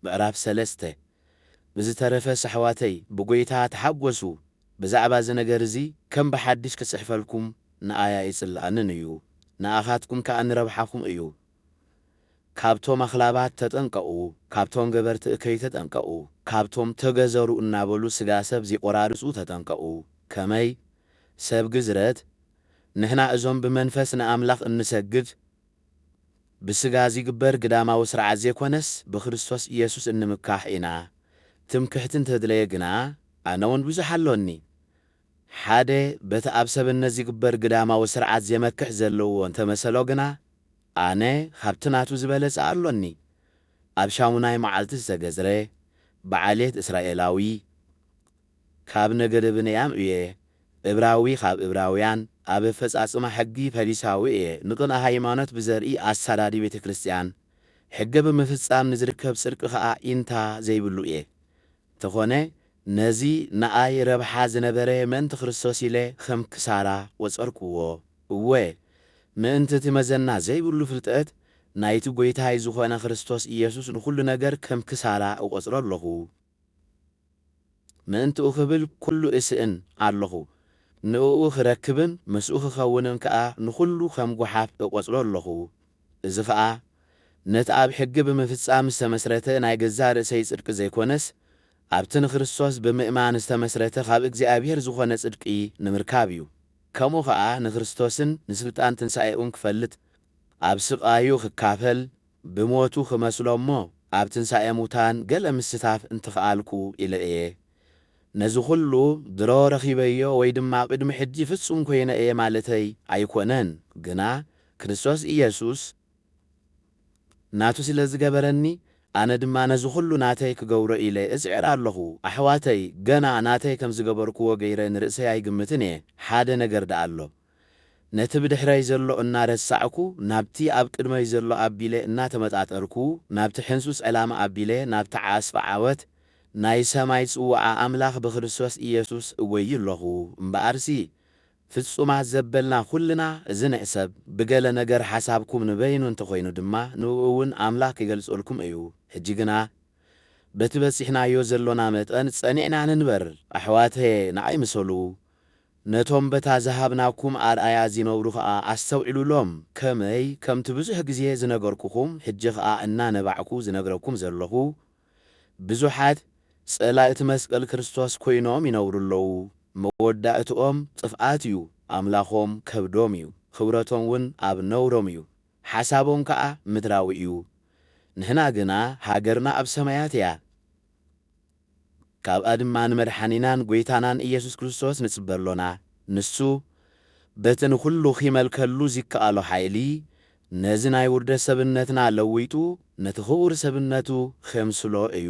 ምዕራፍ ሰለስተ፣ ብዝተረፈ ኣሕዋተይ ብጐይታ ተሓጐሱ፣ ብዛዕባ እዚ ነገር እዚ ከም ብሓድሽ ክጽሕፈልኩም ንኣይ ኣይጽልኣንን እዩ፣ ንኣኻትኩም ከኣ ንረብሓኹም እዩ። ካብቶም ኣኽላባት ተጠንቀቑ፣ ካብቶም ገበርቲ እከይ ተጠንቀቑ፣ ካብቶም ተገዘሩ እናበሉ ስጋ ሰብ ዚቈራርጹ ተጠንቀቑ። ከመይ፣ ሰብ ግዝረት፣ ንሕና እዞም ብመንፈስ ንኣምላኽ እንሰግድ ብስጋ ዚግበር ግዳማዊ ስርዓት ዘይኮነስ ብክርስቶስ ኢየሱስ እንምካሕ ኢና ትምክሕቲ እንተድለየ ግና ኣነውን ብዙሕ ኣሎኒ ሓደ በቲ ኣብ ሰብነት ዚግበር ግዳማዊ ስርዓት ዜመክሕ ዘለዎ እንተመሰሎ ግና ኣነ ኻብቲ ናቱ ዝበለጸ ኣሎኒ ኣብ ሻሙናይ መዓልቲ ዝተገዝረ ብዓሌት እስራኤላዊ ካብ ነገደ ብንያም እየ፣ እብራዊ ካብ እብራውያን፣ ኣብ ኣፈጻጽማ ሕጊ ፈሪሳዊ እየ፣ ንቕንኢ ሃይማኖት ብዘርኢ ኣሳዳዲ ቤተ ክርስቲያን፣ ሕገ ብምፍጻም ንዝርከብ ጽድቂ ኸኣ ኢንታ ዘይብሉ እየ። እንተኾነ ነዚ ንኣይ ረብሓ ዝነበረ ምእንቲ ክርስቶስ ኢለ ኸም ክሳራ ቈጸርክዎ፣ እወ ምእንቲ እቲ መዘና ዘይብሉ ፍልጠት ናይቲ ጐይታይ ዝኾነ ክርስቶስ ኢየሱስ ንዅሉ ነገር ከም ክሳራ እቈጽሮ ኣለኹ። ምእንትኡ ክብል ኩሉ እስእን ኣሎኹ፣ ንእኡ ክረክብን ምስኡ ክኸውንን ከኣ ንኹሉ ከም ጐሓፍ እቈጽሮ ኣሎኹ። እዚ ኸኣ ነቲ ኣብ ሕጊ ብምፍጻም ዝተመስረተ ናይ ገዛእ ርእሰይ ጽድቂ ዘይኰነስ፣ ኣብቲ ንክርስቶስ ብምእማን ዝተመስረተ ኻብ እግዚኣብሄር ዝዀነ ጽድቂ ንምርካብ እዩ። ከምኡ ኸኣ ንክርስቶስን ንስልጣን ትንሳኤኡን ክፈልጥ፣ ኣብ ስቓዩ ክካፈል፣ ብሞቱ ክመስሎ እሞ ኣብ ትንሳኤ ሙታን ገለ ምስታፍ እንተኽኣልኩ ኢለ እየ። ነዚ ኹሉ ድሮ ረኺበዮ ወይ ድማ ቅድሚ ሕጂ ፍጹም ኮይነ እየ ማለተይ ኣይኮነን፣ ግና ክርስቶስ ኢየሱስ ናቱ ስለ ዝገበረኒ ኣነ ድማ ነዚ ኹሉ ናተይ ክገብሮ ኢለ እጽዕር ኣለኹ። ኣሕዋተይ ገና ናተይ ከም ዝገበርክዎ ገይረ ንርእሰይ ኣይግምትን እየ። ሓደ ነገር ደኣ ኣሎ። ነቲ ብድሕረይ ዘሎ እናረሳዕኩ ናብቲ ኣብ ቅድመይ ዘሎ ኣቢለ እናተመጣጠርኩ ናብቲ ሕንሱስ ዕላማ ኣቢለ ናብቲ ዓስቢ ዓወት ናይ ሰማይ ጽውዓ ኣምላኽ ብክርስቶስ ኢየሱስ እጐዪ ኣሎኹ እምበኣርሲ ፍጹማት ዘበልና ኩልና እዚ ንሕሰብ ብገለ ነገር ሓሳብኩም ንበይኑ እንተኾይኑ ድማ ንእኡ እውን ኣምላኽ ኪገልጸልኩም እዩ ሕጂ ግና በቲ በጺሕናዮ ዘሎና መጠን ጸኒዕና ንንበር ኣሕዋተየ ንዓይ ምሰሉ ነቶም በታ ዝሃብናኩም ኣርኣያ ዚነብሩ ኸኣ ኣስተውዕሉሎም። ከመይ፣ ከምቲ ብዙሕ ግዜ ዝነገርኩኹም፣ ሕጂ ኸኣ እናነባዕኩ ዝነግረኩም ዘለኹ፣ ብዙሓት ጸላእቲ መስቀል ክርስቶስ ኮይኖም ይነብሩ ኣለዉ። መወዳእትኦም ጥፍኣት እዩ፣ ኣምላኾም ከብዶም እዩ፣ ኽብረቶምውን ኣብ ነውሮም እዩ፣ ሓሳቦም ከኣ ምድራዊ እዩ። ንሕና ግና ሃገርና ኣብ ሰማያት እያ። ካብኣ ድማ ንመድሓኒናን ጐይታናን ኢየሱስ ክርስቶስ ንጽበ ኣሎና። ንሱ በቲ ንዅሉ ኺመልከሉ ዚከኣሎ ሓይሊ፣ ነዚ ናይ ውርደት ሰብነትና ለዊጡ ነቲ ኽቡር ሰብነቱ ኼምስሎ እዩ።